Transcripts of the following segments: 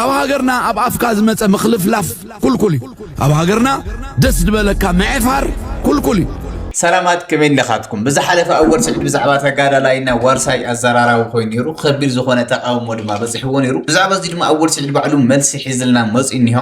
ኣብ ሃገርና ኣብ ኣፍካ ዝመጸ ምኽልፍላፍ ኩልኩል እዩ ኣብ ሃገርና ደስ ዝበለካ ምዕፋር ኩልኩል እዩ ሰላማት ከመይ ኣለኻትኩም? ብዝሓለፈ ኣወል ስዒድ ብዛዕባ ተጋዳላይና ዋርሳይ ኣዘራራቢ ኮይኑ ነይሩ፣ ከቢድ ዝኾነ ተቃውሞ ድማ በፂሕዎ ነይሩ። ብዛዕባ እዚ ድማ ኣወል ስዒድ ባዕሉ መልሲ ሒዝልና መፂኡ እኒሆ።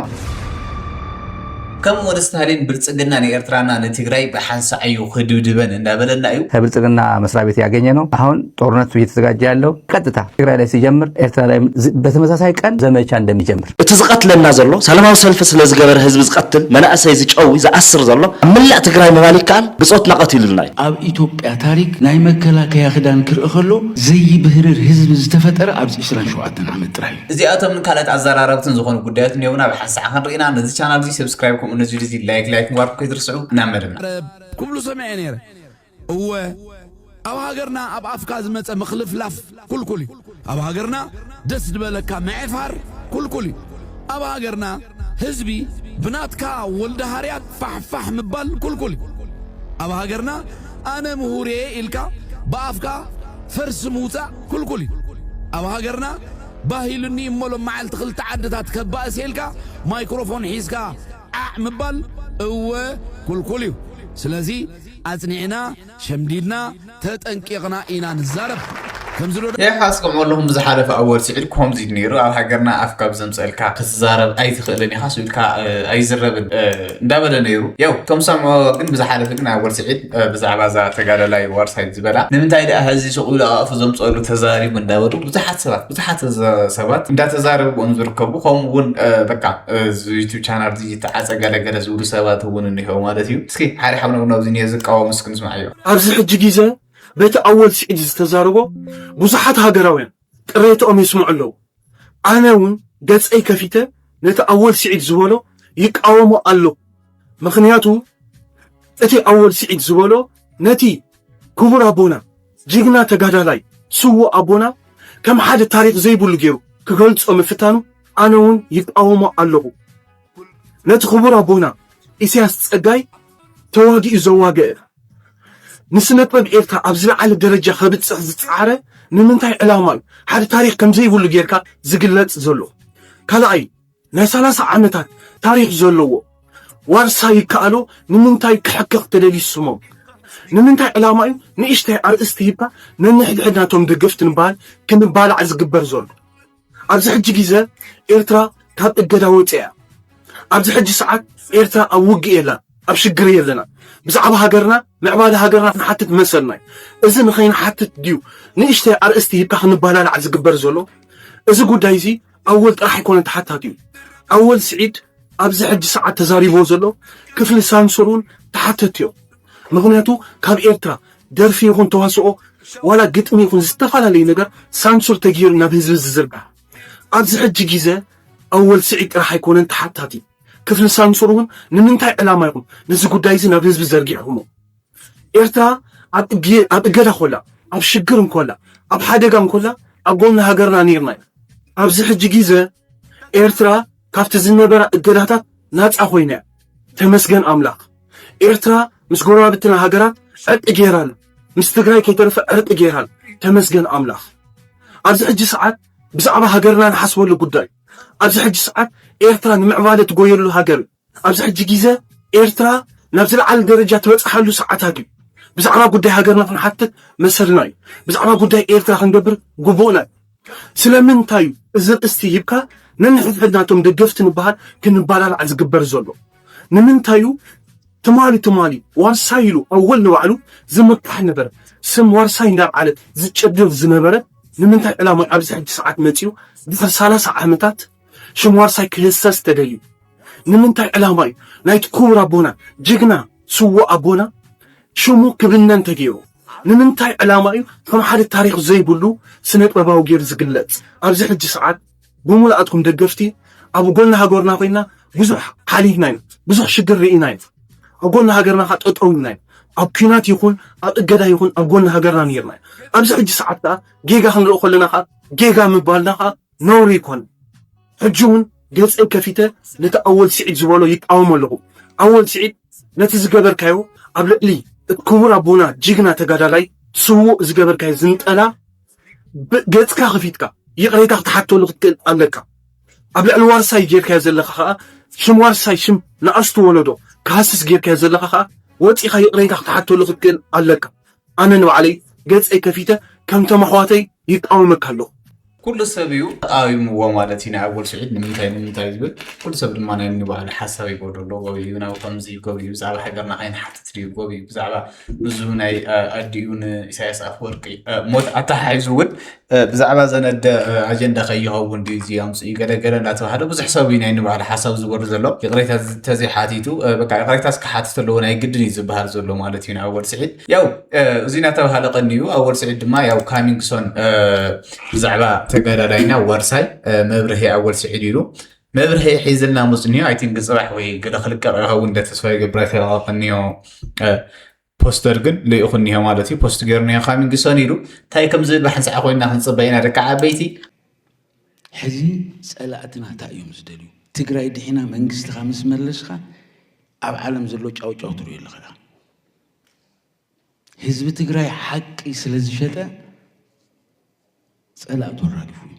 ከም ወድ ስታሊን ብልፅግና ንኤርትራና ንትግራይ ብሓንሳዕዩ ክድብድበን እንዳበለና እዩ። ከብልጽግና መስሪያ ቤት ያገኘ ነው አሁን ጦርነቱ እየተዘጋጀ ያለው ቀጥታ ትግራይ ላይ ሲጀምር ኤርትራ ላይ በተመሳሳይ ቀን ዘመቻ እንደሚጀምር። እቲ ዝቀትለና ዘሎ ሰለማዊ ሰልፊ ስለዝገበረ ህዝቢ ዝቀትል መናእሰይ ዝጨዊ ዝኣስር ዘሎ ኣብ መላእ ትግራይ ምባል ይከኣል ብፆትና ቀቲሉልና እዩ። ኣብ ኢትዮጵያ ታሪክ ናይ መከላከያ ክዳን ክርእ ከሎ ዘይብህርር ህዝቢ ዝተፈጠረ ኣብዚ ዕስራን ሸውዓተን ዓመት ጥራይ እዩ። እዚኣቶምን ካልኦት ኣዘራረብትን ዝኾኑ ጉዳዮት እንዮምና ብሓንሳእ ሳዕ ክንርኢና ነዚ ቻናል እዚ ሰብስክራይብ ከምኡ ነዚ ቪድዮ እዚ ላይክ ላይክ ምግባርኩም ከይትርስዑ ናብ መደብና ረብ ክብሉ ሰሚዐ ነይረ እወ ኣብ ሃገርና ኣብ ኣፍካ ዝመፀ ምክልፍላፍ ኩልኩል እዩ ኣብ ሃገርና ደስ ዝበለካ ምዕፋር ኩልኩል እዩ ኣብ ሃገርና ህዝቢ ብናትካ ወልደ ሃርያት ፋሕፋሕ ምባል ኩልኩል እዩ ኣብ ሃገርና ኣነ ምሁርየ ኢልካ ብኣፍካ ፈርሲ ምውጻእ ክልኩል እዩ። ኣብ ሃገርና ባህ ኢሉኒ እሞ ሎማዓልቲ ክልተ ዓድታት ከባእስ እየ ኢልካ ማይክሮፎን ሒዝካ ዓዕ ምባል እወ ክልኩል እዩ። ስለዚ ኣጽኒዕና ሸምዲድና ተጠንቂቕና ኢና ንዛረብ። ከምዚ ዶ ያህ ኣስቅምዑ ኣለኹም ብዝሓለፈ ኣወል ስዒድ ኮምዚ ዩ ነይሩ ኣብ ሃገርና ኣፍ ካብ ዘምጸልካ ክትዛረብ ኣይትኽእልን ኢኻ ስብኢልካ ኣይዝረብን እንዳበለ ነይሩ ያው ከም ሰምዖ ግን ብዝሓለፈ ግን ኣወል ስዒድ ብዛዕባ እዛ ተጋዳላይ ዋርሳይት ዝበላ ንምንታይ ደኣ ሕዚ ሱቕ ኢሉ ኣፍ ዘምጸሉ ተዛሪቡ እንዳበሉ ብዙሓት ሰባት ብዙሓት ሰባት እንዳተዛረብዎም ዝርከቡ ከምኡ እውን በቃ ዩቱብ ቻናል ዝተዓፀ ገለገለ ዝብሉ ሰባት እውን እኒሄው ማለት እዩ እስኪ ሓደ ሓብነብናብዚ ዝቃወም እስኪ ንስማዕ እዮም ኣብዚ ሕጂ ግዜ በቲ ኣወል ስዒድ ዝተዛረቦ ብዙሓት ሃገራውያን ቅሬትኦም የስምዑ ኣለዉ። ኣነ እውን ገጸይ ከፊተ ነቲ ኣወል ስዒድ ዝበሎ ይቃወሞ ኣለኹ። ምኽንያቱ እቲ ኣወል ስዒድ ዝበሎ ነቲ ክቡር ኣቦና ጅግና ተጋዳላይ ስዉእ ኣቦና ከም ሓደ ታሪኽ ዘይብሉ ገይሩ ክገልጾ ምፍታኑ ኣነ እውን ይቃወሞ ኣለኹ። ነቲ ክቡር ኣቦና ኢሳያስ ጸጋይ ተዋጊኡ ዘዋገ ንስነጥበብ ኤርትራ ኣብ ዝለዓለ ደረጃ ከብጽሕ ዝጸዓረ ንምንታይ ዕላማ እዩ? ሓደ ታሪኽ ከምዘይብሉ ጌርካ ዝግለጽ ዘሎ። ካልኣይ ናይ ሰላሳ ዓመታት ታሪኽ ዘለዎ ዋርሳ ይከኣሎ ንምንታይ ክሕከኽ ተደልዩ ስሞም? ንምንታይ ዕላማ እዩ ንእሽተይ ኣርእስቲ ሂብካ ነንሕድሕድና እቶም ደገፍቲ ንበሃል ክንባላዕ ዝግበር ዘሎ? ኣብዚ ሕጂ ግዘ ኤርትራ ካብ እገዳ ወጺኣ እያ። ኣብዚ ሕጂ ሰዓት ኤርትራ ኣብ ውግእ የላን፣ ኣብ ሽግር የለናን። ብዛዕባ ሃገርና ምዕባለ ሃገርና ክንሓትት መሰልና እዩ። እዚ ንኸይንሓትት ድዩ ንእሽተይ ኣርእስቲ ሂብካ ክንባላላዕ ዝግበር ዘሎ? እዚ ጉዳይ እዚ ኣወል ጥራሕ ኣይኮነን ተሓታቲኡ። ኣወል ስዒድ ኣብዚ ሕጂ ሰዓት ተዛሪብዎ ዘሎ ክፍሊ ሳንሱር እውን ተሓተቲ እዮም። ምኽንያቱ ካብ ኤርትራ ደርፊ ይኹን ተዋስኦ ዋላ ግጥሚ ይኹን ዝተፋላለዩ ነገር ሳንሱር ተጌሩ ናብ ህዝቢ ዝዝርጋሕ ኣብዚ ሕጂ ጊዘ ኣወል ስዒድ ጥራሕ ኣይኮነን ተሓታቲ ክፍሊ ሳንሱር ውን ንምንታይ ዕላማ ኢኹም ነዚ ጉዳይ እዚ ናብ ህዝቢ ዘርጊሕኹሞ ኤርትራ ኣብ እገዳ ኮላ ኣብ ሽግር እንኮላ ኣብ ሓደጋ እንኮላ ኣብ ጎኒ ሃገርና ኔርና ኢና ኣብዚ ሕጂ ጊዘ ኤርትራ ካብቲ ዝነበራ እገዳታት ናጻ ኮይና እያ። ተመስገን ኣምላኽ ኤርትራ ምስ ጎረባብትና ሃገራት ዕርቂ ገይራ ኣላ ምስ ትግራይ ከይተረፈ ዕርቂ ገይራ ኣላ ተመስገን ኣምላኽ ኣብዚ ሕጂ ሰዓት ብዛዕባ ሃገርና ንሓስበሉ ጉዳይ ኣብዚ ሕጂ ሰዓት ኤርትራ ንምዕባለ ትጎየሉ ሃገር ኣብዚ ሕጂ ግዜ ኤርትራ ናብ ዝለዓለ ደረጃ ትበጽሓሉ ሰዓታት እዩ ብዛዕባ ጉዳይ ሃገርና ክንሓትት መሰልና እዩ ብዛዕባ ጉዳይ ኤርትራ ክንገብር ግቡእና እዩ ስለምንታይ እዩ እዚ ርእስቲ ሂብካ ነንሕድሕድና እቶም ደገፍቲ ንበሃል ክንበላላዕ ዝግበር ዘሎ? ንምንታይ እዩ ትማሊ ትማሊ ዋርሳይ ኢሉ ኣወል ንባዕሉ ዝምካሕ ነበረ ስም ዋርሳይ እንዳብዓለ ዝጭድር ዝነበረ ንምንታይ ዕላማ ኣብዚ ሕጂ ሰዓት መጺኡ ድሕሪ ሰላሳ ዓመታት ሽም ዋርሳይ ክህሰስ ተደልዩ ንምንታይ ዕላማ እዩ ናይቲ ክቡር ኣቦና ጅግና ስዉእ ኣቦና ሽሙ ክብነን ተገይሩ ንምንታይ ዕላማ እዩ ከም ሓደ ታሪኽ ዘይብሉ ስነጥበባዊ ጌሩ ዝግለጽ ኣብዚ ሕጂ ሰዓት ብሙሉኣትኩም ደገፍቲ ኣብ ጎኒ ሃገርና ኮይና ብዙሕ ሓሊፍና ኢና ብዙሕ ሽግር ሪኢና ኢና ኣብ ጎኒ ሃገርና ከኣ ጠጠው ኢልና ኢና ኣብ ኩናት ይኹን ኣብ እገዳ ይኹን ኣብ ጎኒ ሃገርና ኔርና ኢና ኣብዚ ሕጂ ሰዓት ከኣ ጌጋ ክንርኢ ከለና ከኣ ጌጋ ምባልና ከኣ ነውሪ ኣይኮነን ሕጂ ውን ገጸይ ከፊተ ነቲ ኣወል ስዒድ ዝበሎ ይቃወሞ ኣለኹ ኣወል ስዒድ ነቲ ዝገበርካዮ ኣብ ልዕሊ እቲ ክቡር ኣቦና ጅግና ተጋዳላይ ስውእ ዝገበርካዮ ዝንጠላ ብ ገጽካ ከፊትካ ይቅሬታ ክትሓተሉ ክትክእል ኣለካ ኣብ ልዕሊ ዋርሳይ ጌርካዮ ዘለካ ከኣ ሽም ዋርሳይ ሽም ንኣሽቱ ወለዶ ክሃስስ ጌርካዮ ዘለካ ከኣ ወጺኻ ይቅሬታ ክትሓተሉ ክትክእል ኣለካ ኣነ ንባዕለይ ገጸይ ከፊተ ከምቶም ኣሕዋተይ ይቃወመካ ኣለኩ። ኩሉ ሰብ እዩ ተቃዊምዎ ማለት እዩ ናይ ኣወል ስዒድ ንምንታይ ንምንታይ ዝብል ኩሉ ሰብ ድማ ናይ ንባዕሉ ሓሳብ ይበሎ ኣሎ ጎብ እዩ ናብ ከምዚ ጎብ እዩ ብዛዕባ ሃገርና ከይንሓትት ድዩ ጎብ እዩ ብዛዕባ ንዙ ናይ ኣዲኡ ንኢሳያስ ኣፈወርቂ ሞት ኣተሓሒዙ እውን ብዛዕባ ዘነደ ኣጀንዳ ከይኸውን ድዩ እዚ ኣምፅኡ ገለገለ እናተባህለ ብዙሕ ሰብ እዩ ናይ ንባህል ሓሳብ ዝበሉ ዘሎ ይቕሬታ ተዘይሓቲቱ በቃ ይቕሬታስ ክሓትት ኣለዎ ናይ ግድን እዩ ዝበሃል ዘሎ ማለት እዩ ንኣወል ስዒድ ያው እዚ እናተባህለ ቀንዩ ኣወል ስዒድ ድማ ያው ካሚንግሶን ብዛዕባ ተጋዳላይና ዋርሳይ መብርሂ ኣወል ስዒድ ኢሉ መብርሂ ሒዝልና ምፅንዮ ኣይ ቲንክ ፅባሕ ወይ ገለ ክልቀቕ ይኸውን እንደ ተስፋ ይገብር ኣይተለቐቐንዮ ፖስተር ግን ልኢኹ እኒሀ ማለት እዩ ፖስት ገይሩ እኒሀ ካሚንግ ሰን ኢሉ እንታይ ከም ዝብል ብሓንሳዕ ኮይና ክንፅበ ኢና ደቂ ዓበይቲ ሕዚ ፀላእትና እንታይ እዮም ዝደልዩ ትግራይ ድሒና መንግስትኻ ምስ መለስኻ ኣብ ዓለም ዘሎ ጫውጫው ትሪኦ ኣለኻ ድኣ ህዝቢ ትግራይ ሓቂ ስለ ዝሸጠ ፀላእቱ ኣራጊፉ እዩ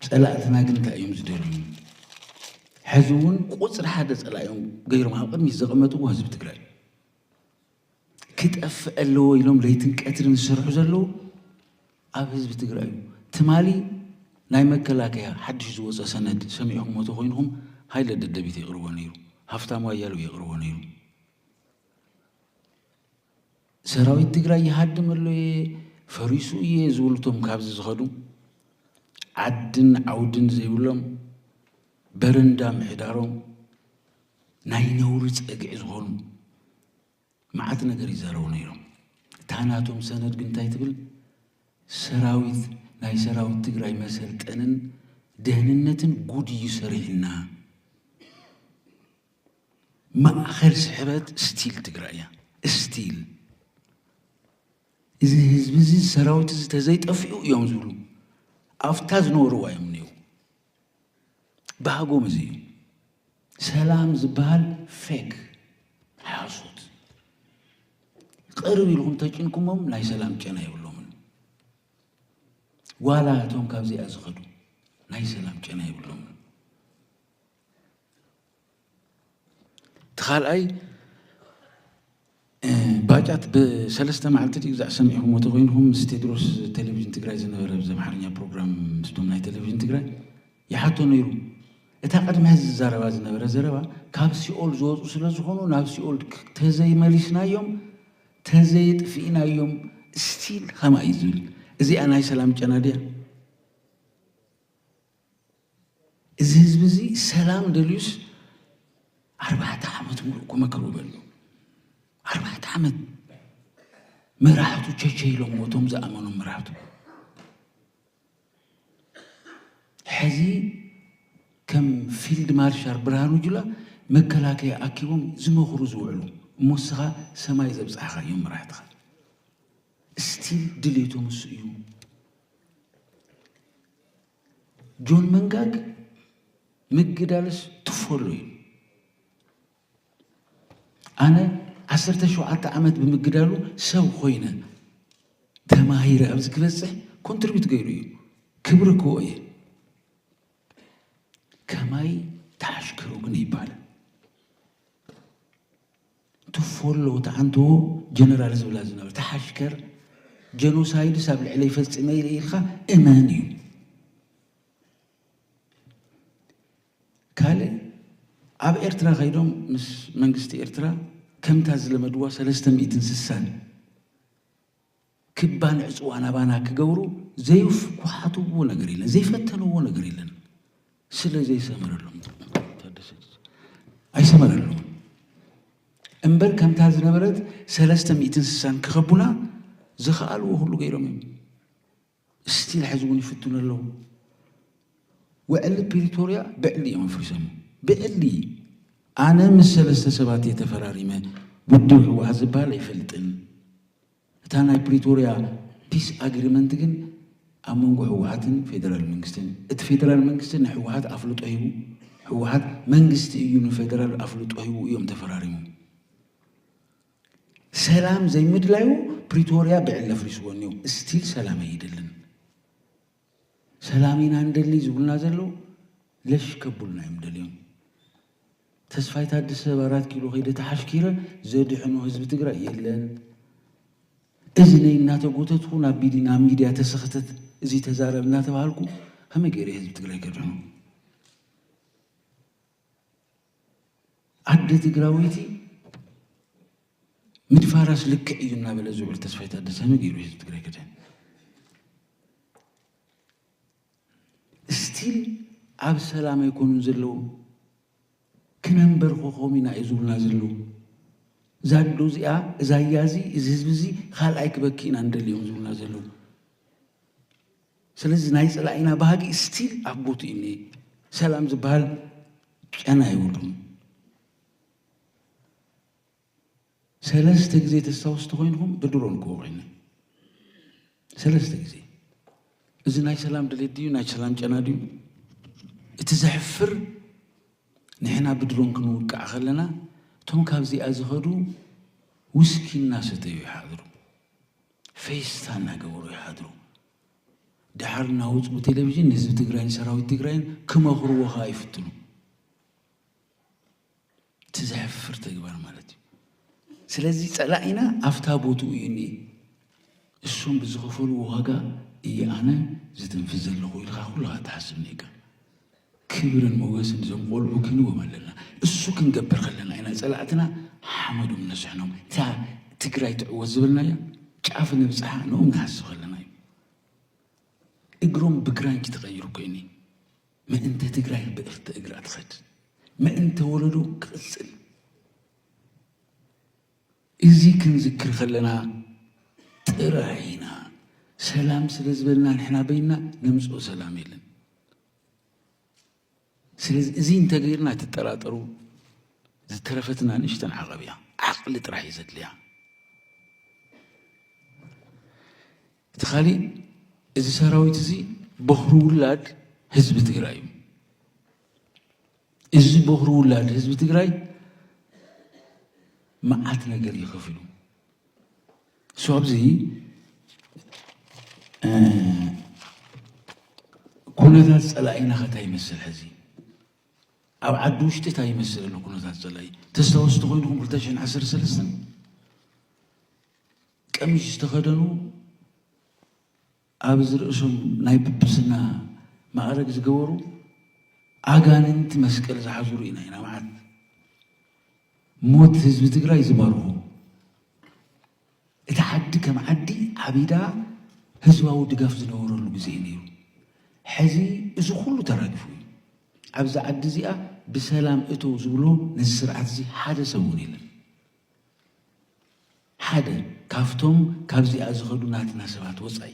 ፀላእትና ግን እንታይ እዮም ዝደልዩ? ሕዚ እውን ቁፅሪ ሓደ ፀላእዮም ገይሮም ኣብ ቅድሚት ዘቐመጥዎ ህዝቢ ትግራይ ክጠፍእ ኣለዎ ኢሎም ለይትን ቀትርን ዝሰርሑ ዘለዉ ኣብ ህዝቢ ትግራይ እዩ። ትማሊ ናይ መከላከያ ሓድሽ ዝወፀ ሰነድ ሰሚዕኹምዎ ተኾይንኹም ሃይለ ደደቢት የቕርቦ ነይሩ፣ ሃፍታሙ ኣያሌው የቕርቦ ነይሩ። ሰራዊት ትግራይ ይሃድም ኣሎ እየ ፈሪሱ እየ ዝብሉ እቶም ካብዚ ዝኸዱ ዓድን ዓውድን ዘይብሎም በረንዳ ምሕዳሮም ናይ ነውሪ ጸግዒ ዝኾኑ መዓት ነገር ይዛረቡ ነይሮም። እታ ናቶም ሰነድ ግን እንታይ ትብል? ሰራዊት ናይ ሰራዊት ትግራይ መሰልጠንን ደህንነትን ጉድ እዩ ሰሪሕና ማእኸል ስሕበት ስቲል ትግራይ እያ ስቲል እዚ ህዝቢ እዚ ሰራዊት እዚ ተዘይጠፊኡ እዮም ዝብሉ ኣብታ ዝነበርዋ እዮም እኒው ባህጎም እዚ እዩ ሰላም ዝበሃል ፌክ ሓሶት ቅርብ ኢልኩም ተጭንኩሞም ናይ ሰላም ጨና ይብሎምን ዋላ እቶም ካብዚኣ ዝኸዱ ናይ ሰላም ጨና ይብሎምን እቲ ካልኣይ ባጫት ብሰለስተ መዓልቲ ድዩ ግዛዕ ሰሚዕኹምዎ ተኮይንኹም ምስ ቴድሮስ ቴሌቭዥን ትግራይ ዝነበረ ብዚ ኣምሓርኛ ፕሮግራም ምስቶም ናይ ቴሌቭዥን ትግራይ ይሓቶ ነይሩ እታ ቅድሚ ሕዚ ዝዛረባ ዝነበረ ዘረባ ካብ ሲኦል ዝወፁ ስለ ዝኾኑ ናብ ሲኦል ተዘይመሊስናዮም ተዘይጥፍኢናዮም ስቲል ኸማ እዩ ዝብል እዚኣ ናይ ሰላም ጨና ድያ እዚ ህዝቢ እዚ ሰላም ደልዩስ ኣርባዕተ ዓመት ሙሉእ እኮ መከሩ በሉ ኣርባዕተ ዓመት መራሕቱ ቸቸ ኢሎም ሞቶም ዝኣመኖም መራሕቱ ሕዚ ከም ፊልድ ማርሻል ብርሃኑ ጁላ መከላከያ ኣኪቦም ዝመኽሩ ዝውዕሉ እሞ እስኻ ሰማይ ዘብፅሓኻ እዮም መራሕትኻ ስቲል ድሌቶም እሱ እዩ ጆን መንጋግ ምግዳልስ ትፈሉ እዩ ኣነ ዓሰርተ ሸውዓተ ዓመት ብምግዳሉ ሰብ ኮይነ ተማሂረ ኣብዚ ክበፅሕ ኮንትሪቢዩት ገይሩ እዩ ክብሪ ክዎ እየ ከማይ ተሓሽከሩ ግን ይባል ትፎሎ እታ ኣንትዎ ጀነራል ዝብላ ዝነበረ እታ ሓሽከር ጀኖሳይድስ ኣብ ልዕለይ ፈጺመ ኢለ ኢልካ እመን እዩ ካልእ ኣብ ኤርትራ ከይዶም ምስ መንግስቲ ኤርትራ ከምታ ዝለመድዋ ሰለስተ ሚእትን ስሳን ክባን ዕጽዋን ኣባና ክገብሩ ዘይኩሓትዎ ነገር የለን፣ ዘይፈተንዎ ነገር የለን። ስለ ዘይሰመረሎም ኣይሰመረሎም እምበር ከምታ ዝነበረት ሰለስተ ሚእትን ስሳን ክኸቡና ዝኸኣልዎ ኩሉ ገይሮም እዮም። ስቲል ሐዚ እውን ይፍትኑ ኣለው። ውዕሊ ፕሪቶርያ ብዕሊ እዮም ኣፍሪሶሞ ብዕሊ ኣነ ምስ ሰለስተ ሰባት እየ ተፈራሪመ ውድብ ህወሓት ዝበሃል ኣይፈልጥን እታ ናይ ፕሪቶርያ ፒስ ኣግሪመንት ግን ኣብ መንጎ ህወሓትን ፌደራል መንግስትን እቲ ፌደራል መንግስቲ ንህወሓት ኣፍልጦ ሂቡ ህወሓት መንግስቲ እዩ ንፌደራል ኣፍልጦ ሂቡ እዮም ተፈራሪሞም ሰላም ዘይምድላዩ ፕሪቶርያ ብዕሊ ኣፍሪስዎ እኒኦ እስቲል ሰላም ኣይደልን ሰላም ኢና ንደሊ ዝብሉና ዘለው ለሽ ከብሉና እዮም ደልዮም ተስፋይ ታደሰ ኣብ ኣራት ኪሎ ከይደ ተሓሽኪረ ዘድሕኖ ህዝቢ ትግራይ የለን። እዚ ነይ እናተጎተትኩ ናብ ቢዲ ናብ ሚድያ ተሰኽተት እዚ ተዛረብ እናተባሃልኩ ከመይ ገይረ ህዝቢ ትግራይ ከድሕኖ? ኣደ ትግራወይቲ ምድፋራስ ልክዕ እዩ እናበለ ዝውዕል ተስፋይ ታደሰ ነጊሩ ህዝቢ ትግራይ ክድህን እስቲል ኣብ ሰላም ኣይኮኑን ዘለዉ ክነንበርኾኾም ኢና እዩ ዝብሉና ዘለዉ እዛ ኣዶ እዚኣ እዛ እያ እዚ እዚ ህዝቢ እዚ ካልኣይ ክበኪ ኢና ንደልዮም ዝብሉና ዘለዉ ስለዚ ናይ ጸላኢና ባህጊ ስቲል ኣብ ቦትኡ እዩ እንሄ። ሰላም ዝበሃል ጨና የብሉን። ሰለስተ ግዜ ተስታውሱ ተኾይንኹም ብድሮን ክወቂዕና ሰለስተ ግዜ እዚ ናይ ሰላም ድሌት ድዩ ናይ ሰላም ጨና ድዩ? እቲ ዘሕፍር ንሕና ብድሮን ክንውቃዕ ከለና እቶም ካብዚኣ ዝኸዱ ውስኪ እናሰተዩ ይሓድሩ። ፌስታ እናገበሩ ይሓድሩ። ደሓር እናወፁ ብቴሌቪዥን ንህዝቢ ትግራይን ሰራዊት ትግራይን ክመኽርዎ ከዓ ይፍትኑ። እቲ ዘሕፍር ተግባር ማለት እዩ። ስለዚ ፀላኢና ኣፍታ ቦትኡ እዩ እኒ እሱም ብዝኸፈልዎ ዋጋ እየ ኣነ ዝትንፍስ ዘለኹ ኢልካ ኩልኻ ትሓስብ ኔርካ። ክብርን ሞገስን እዞም ቆልዑ ክንዎም ኣለና እሱ ክንገብር ከለና ኢና ፀላእትና ሓመዶም ነስሕኖም እታ ትግራይ ትዕወት ዝበልናያ ጫፍ ነብፅሓ ንኦም ንሃሲ ከለና እዩ እግሮም ብግራንጭ ተቀይሩ ኮይኒ ምእንተ ትግራይ ብእርተ እግራ ትኸድ ምእንተ ወለዶ ክቅፅል እዚ ክንዝክር ከለና ጥራይ ኢና ሰላም ስለ ዝበልና ንሕና በይና ነምፅኦ ሰላም የለን ስለዚ እዚ እንተገይርና ኣይትጠራጠሩ ዝተረፈትና ንእሽተን ዓቐብ እያ ዓቕሊ ጥራሕ እዩ ዘድልያ እቲ ካሊእ እዚ ሰራዊት እዚ ቦኽሪ ውላድ ህዝቢ ትግራይ እዩ እዚ ቦኽሪ ውላድ ህዝቢ ትግራይ መዓት ነገር ይኸፍሉ ሶብዚ ኩነታት ፀላኢና ከ እንታይ ይመስል ሕዚ ኣብ ዓዲ ውሽጢ እንታይ ይመስል ኣሎ ኩነታት ፀላኢ ተስታወስቲ ኮይንኩም 213 ቀሚሽ ዝተኸደኑ ኣብዚ ርእሶም ናይ ጵጵስና ማእረግ ዝገበሩ ኣጋንንቲ መስቀል ዝሓዙ ርኢና ኢና መዓት ሞት ህዝቢ ትግራይ ዝባርኹ እቲ ዓዲ ከም ዓዲ ዓቢዳ ህዝባዊ ድጋፍ ዝነበረሉ ግዜ እዩ ነይሩ ሕዚ እዚ ኩሉ ተራጊፉ እዩ ኣብዚ ዓዲ እዚኣ ብሰላም እቶ ዝብሎ ነዚ ስርዓት እዚ ሓደ ሰብ እውን የለን ሓደ ካብቶም ካብዚኣ ዝኸዱ ናትና ሰባት ወፃኢ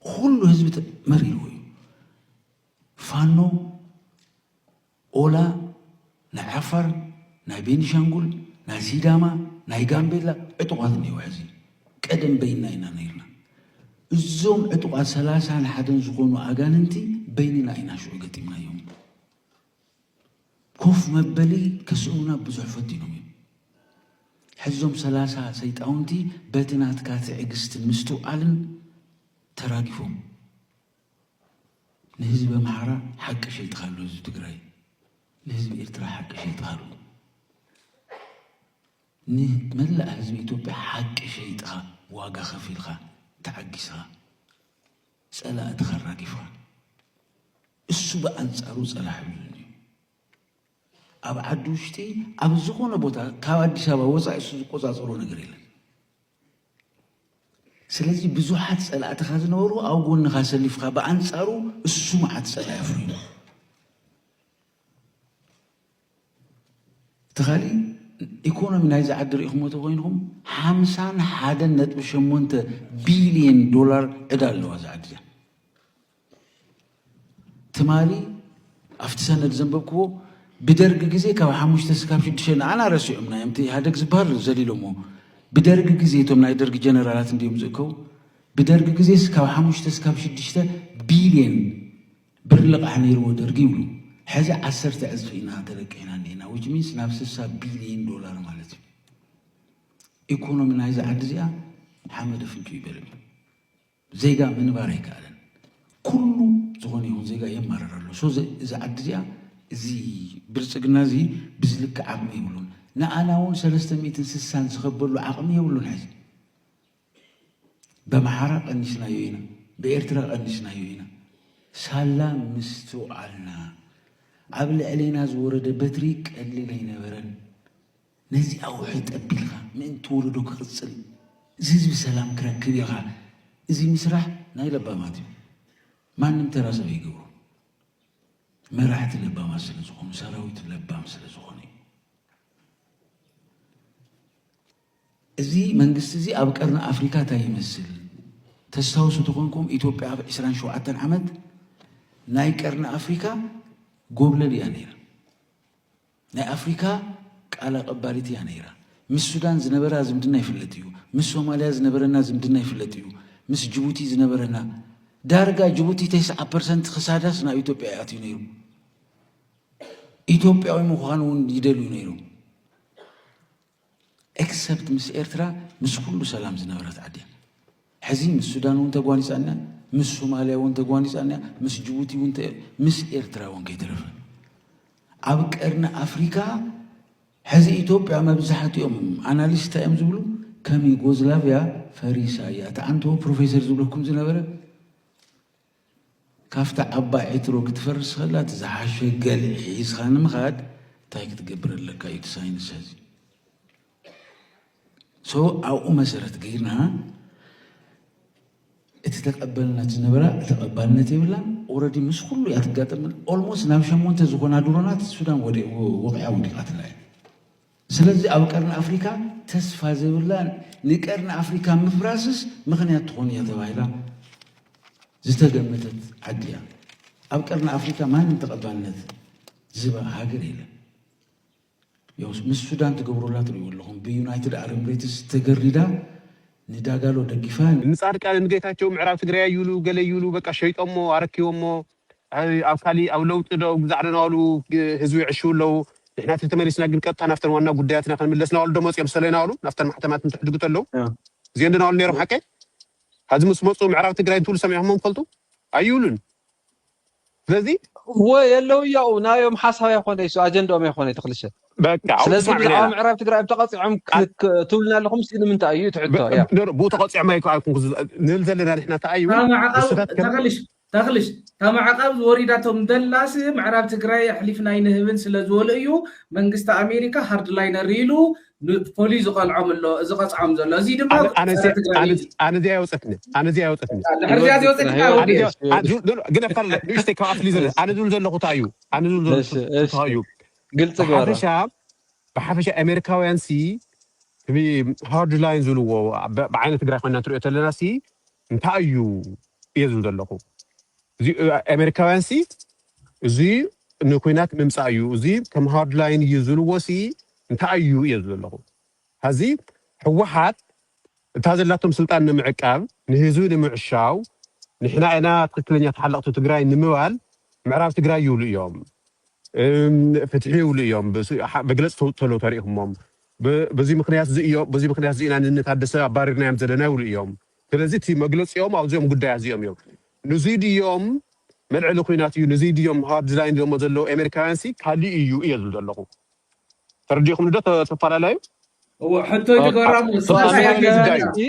ኹሉ ህዝቢ ተ- መሪርዎ እዩ። ፋኖ ኦላ ናይ ዓፋር፣ ናይ ቤኒሻንጉል፣ ናይ ሲዳማ፣ ናይ ጋምቤላ ዕጡቓት እኒአው ሕዚ ቀደም በይንና ኢና ነይርና። እዞም ዕጡቓት ሰላሳን ሓደን ዝኾኑ ኣጋንንቲ በይንና ኢና ሽዑ ገጢምናዮም። ኮፍ መበሊ ከስእኑና ብዙሕ ፈቲኖም እዮም። ሕዚ እዞም ሰላሳ ሰይጣውንቲ በቲ ናትካ ትዕግስትን ምስትውዓልን ተራጊፎም ንህዝቢ ኣምሓራ ሓቂ ሸይጥካ ኣሎ ህዝቢ ትግራይ ንህዝቢ ኤርትራ ሓቂ ሸይጥካ ኣሎ ንመላእ ህዝቢ ኢትዮጵያ ሓቂ ሸይጥኻ ዋጋ ከፊልኻ ተዓጊስኻ ጸላእትኻ ኣራጊፍኻ እሱ ብኣንጻሩ ጸላሕ ብዙን እዩ ኣብ ዓዲ ውሽጢ ኣብ ዝኾነ ቦታ ካብ ኣዲስ ኣበባ ወፃኢ እሱ ዝቆፃፀሮ ነገር የለን። ስለዚ ብዙሓት ጸላእትኻ ዝነበሩ ኣብ ጎንኻ ኣሰሊፍካ ብኣንጻሩ እሱ መዓት ጸላኢ ኣፍርዩ ተኻሊ ኢኮኖሚ ናይዚ ዓዲ ሪኢኹሞ ተኮይንኹም ሓምሳን ሓደን ነጥቢ ሸሞንተ ቢልየን ዶላር ዕዳ ኣለዋ እዛ ዓዲ እዚኣ ትማሊ ኣብቲ ሰነድ ዘንበብክዎ ብደርጊ ግዜ ካብ ሓሙሽተ ስካብ ሽዱሽተ ንዓና ረሲዑምና እዮም እቲ ኢህደግ ዝበሃል ዘሊሎሞ ብደርጊ ግዜ እቶም ናይ ደርጊ ጀነራላት እንዲዮም ዝእከቡ ብደርጊ ግዜ ስካብ ሓሙሽተ ስካብ ሽዱሽተ ቢልየን ብር ልቓሕ ነይርዎ ደርጊ ይብሉ ሕዚ ዓሰርተ ዕፅፊ ኢና ተለቂሕና እኒና ዊች ሚንስ ናብ ስሳ ቢልየን ዶላር ማለት እዩ ኢኮኖሚ ናይዚ ዓዲ እዚኣ ሓመደ ፍንጩ ይበልም ዜጋ ምንባር ኣይከኣለን ኩሉ ዝኾነ ይኹን ዜጋ የማርር ኣሎ ሶ እዛ ዓዲ እዚኣ እዚ ብልጽግና እዚ ብዝልክዕ ዓቕሚ የብሉን ንኣና እውን ሰለስተ ሚእትን ስሳን ዝኸበሉ ዓቕሚ የብሉን ሕዚ በምሓራ ቀኒስናዮ ኢና ብኤርትራ ቀኒስናዮ ኢና ሳላ ምስትውዓልና ኣብ ልዕሌና ዝወረደ በትሪ ቀሊል ኣይነበረን ነዚ ኣውሒ ጠቢኻ ምእንቲ ወለዶ ክቕጽል እዚ ህዝቢ ሰላም ክረክብ ኢኻ እዚ ምስራሕ ናይ ለባማት እዩ ማንም ተራ ሰብ ኣይገብሮን መራሕቲ ለባማት ስለ ዝኾኑ ሰራዊት ለባም ስለ ዝኾነ እዩ እዚ መንግስቲ እዚ ኣብ ቀርኒ ኣፍሪካ እንታይ ይመስል ተስታውሱ ተኾንኩም ኢትዮጵያ ኣብ 27 ዓመት ናይ ቀርኒ ኣፍሪካ ጎብለል እያ ነይራ ናይ ኣፍሪካ ቃል ኣቀባሊት እያ ነይራ። ምስ ሱዳን ዝነበራ ዝምድና ይፍለጥ እዩ። ምስ ሶማልያ ዝነበረና ዝምድና ይፍለጥ እዩ። ምስ ጅቡቲ ዝነበረና ዳርጋ ጅቡቲ ተስዓ ፐርሰንት ክሳዳስ ናብ ኢትዮጵያ እዩ ኣትዩ ነይሩ። ኢትዮጵያዊ ምዃን እውን ይደልዩ ነይሮም። ኤክሰፕት ምስ ኤርትራ ምስ ኩሉ ሰላም ዝነበረት ዓዲ እያ። ሕዚ ምስ ሱዳን እውን ተጓኒፃ እኒኣ፣ ምስ ሶማልያ እውን ተጓኒፃ እኒኣ፣ ምስ ጅቡቲ እውን ምስ ኤርትራ እውን ከይተረፈ ኣብ ቀርኒ ኣፍሪካ ሕዚ ኢትዮጵያ መብዛሕትኦም ኣናሊስት እንታይ እዮም ዝብሉ ከም ዩጎዝላቪያ ፈሪሳ እያ። እቲ ኣንቶ ፕሮፌሰር ዝብለኩም ዝነበረ ካብታ ዓባይ ዕትሮ ክትፈርስ ከላ እቲ ዝሓሸ ገልዒ ሒዝኻ ንምኻድ እንታይ ክትገብር ኣለካ እዩ እቲ ሳይንስ ሕዚ ሶ ኣብኡ መሰረት ገይርና እቲ ተቀበልናት ዝነበራ ተቐባልነት የብላን ኦረዲ ምስ ኩሉ እያ ትጋጠም ኦልሞስት ናብ ሸሞንተ ዝኾና ድሮናት ሱዳን ወደ ወቂዓ ወዲቃትላ እያ ስለዚ ኣብ ቀርኒ ኣፍሪካ ተስፋ ዘይብላን ንቀርኒ ኣፍሪካ ምፍራስስ ምኽንያት ትኾን እያ ተባሂላ ዝተገመተት ዓዲ እያ። ኣብ ቀርኒ ኣፍሪካ ማንም ተቐባልነት ዝባ ሃገር የለን። ያውስ ምስ ሱዳን ትገብሩላ ትሪኡ ኣለኹም ብዩናይትድ ዓረብ ኤምሬትስ ተገሪዳ ንዳጋሎ ደጊፋ ንጻድቃንን ጌታቸው ምዕራብ ትግራይ ይብሉ ገለ ይብሉ በቃ ሸይጦሞ ኣረኪቦሞ ኣብ ካሊእ ኣብ ለውጢ ዶ ብዛዕዳ ናባሉ ህዝቢ ይዕሽዉ ኣለዉ ንሕና ተተመሊስና ግን ቀጥታ ናብተን ዋና ጉዳያትና ክንምለስ ናባሉ ዶ መፅዮም ሰለ ናባሉ ናብተን ማሕተማት እንትሕድጉ ተለዉ እዚኤን ዶ ናባሉ ነይሮም ሓቀይ ሀዚ ምስ መፁ ምዕራብ ትግራይ እንትብሉ ሰሚዕኹሞም ትፈልጡ ኣይብሉን ስለዚ እወ የለው እያኡ ናዮም ሓሳብ ኣይኮነ ይሱ ኣጀንዳኦም ኣይኮነ ተክልሸ ስለዚ ብዛዕባ ምዕራብ ትግራይ ተቐፂዖም ትብልና ኣለኹም ሲ ንምንታይ እዩ ትሕቶ ብኡ ተቐፂዖም ኣይኮንኩ ንብል ዘለና ንሕና እንታይ እዩ ተኸልሽ ተኽልሽ፣ እታ ማዕቐብ ዝወሪዳቶም ደላሲ ምዕራብ ትግራይ ኣሕሊፍና ኣይንህብን ስለዝበሉ እዩ መንግስቲ ኣሜሪካ ሃርድላይነር ኢሉ ንፖሊስ ዝቐልዖም ኣሎ፣ ዝቐፅዖም ዘሎ። እዙይ ድማ ኣነ ኣነ ፀረ ትግራይ ኣነ እዩ። ኣነ እዚኣ የውፀትኒ ኣነ እዚኣ የውፀትኒ ድሕሪ እዚኣ ህይወት ዝወፀት ናይ እንታይ ህይወት ወዲ? ኣነ እዚኣ ዩ- ዶ- ዶ- ግን ኣካል ንእሽተይ ካብ ኣፍሊ ዘለ ኣነ ዝብል ዘለኹ እንታይ እዩ ኣነ ዝብል ዘለኹ እሺ እሺ ፍትሃዊ እዩ ግልፂ ግበራ ብሓፈሻ ብሓፈሻ ኣሜሪካውያን ሲ ሃርድ ላይን ዝብልዎ ብ- ብዓይነ ትግራይ ኮይና እንትሪኦ ተለና ሲ እንታይ እዩ እየ ዝብል ዘለኹ እዚ ኣሜሪካውያን ሲ እዚ ንኩናት ምምፃእ እዩ እዚ ከም ሃርድላይን እዩ ዝብልዎ ሲ እንታይ እዩ እየ ዝብል ዘለኹ ሀዚ ህወሓት እታ ዘላቶም ስልጣን ንምዕቃብ ንህዝቢ ንምዕሻው ንሕና ኢና ትክክለኛ ተሓለቕቲ ትግራይ ንምባል ምዕራብ ትግራይ ይብሉ እዮም እም፣ ፍትሒ ይብሉ እዮም ብስ- ሀ- መግለፂ ተውፅእ ተለው ተሪኢኹሞም በዚ ምኽንያትዚ እዮም በዚ ምኽንያትዚ ኢና ንእኒ ታደሰ ኣባሪርናዮም ዘለና ይብሉ እዮም። ስለዚ እቲ መግለፂኦም ኣብዚኦም ጉዳያት እዚኦም እዮም። ንዙይ ድዮም መልዐሊ ኹናት እዩ ንዙይ ድዮም ሃርድ ላይን ኢሎሞ ዘለዉ ኤሜሪካውያንሲ ካሊእ እዩ እየ ዝብል ዘለኹ። ተረዲእኹምኒ ዶ ተፋላላዩ? እወ ሕቶይ ንገሮም ንሱ ተፋላላዩ ጉዳይ እዩ።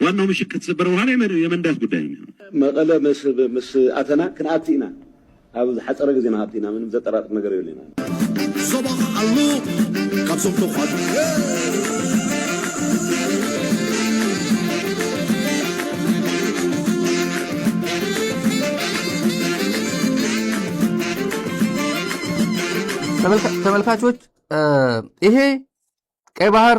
ዋናው ምሽግ ከተሰበረ በኋላ የመንዳት ጉዳይ ነው የሚሆነው። መቐለ ምስ ኣተና ክንኣቲ ኢና ኣብ ዝሓፀረ ግዜ ንኣቲ ኢና ምንም ዘጠራጥር ነገር የብልና። ዞባኻ ሓላሎ ካብ ዞም ተኳዱ ተመልካቾች ይሄ ቀይ ባህር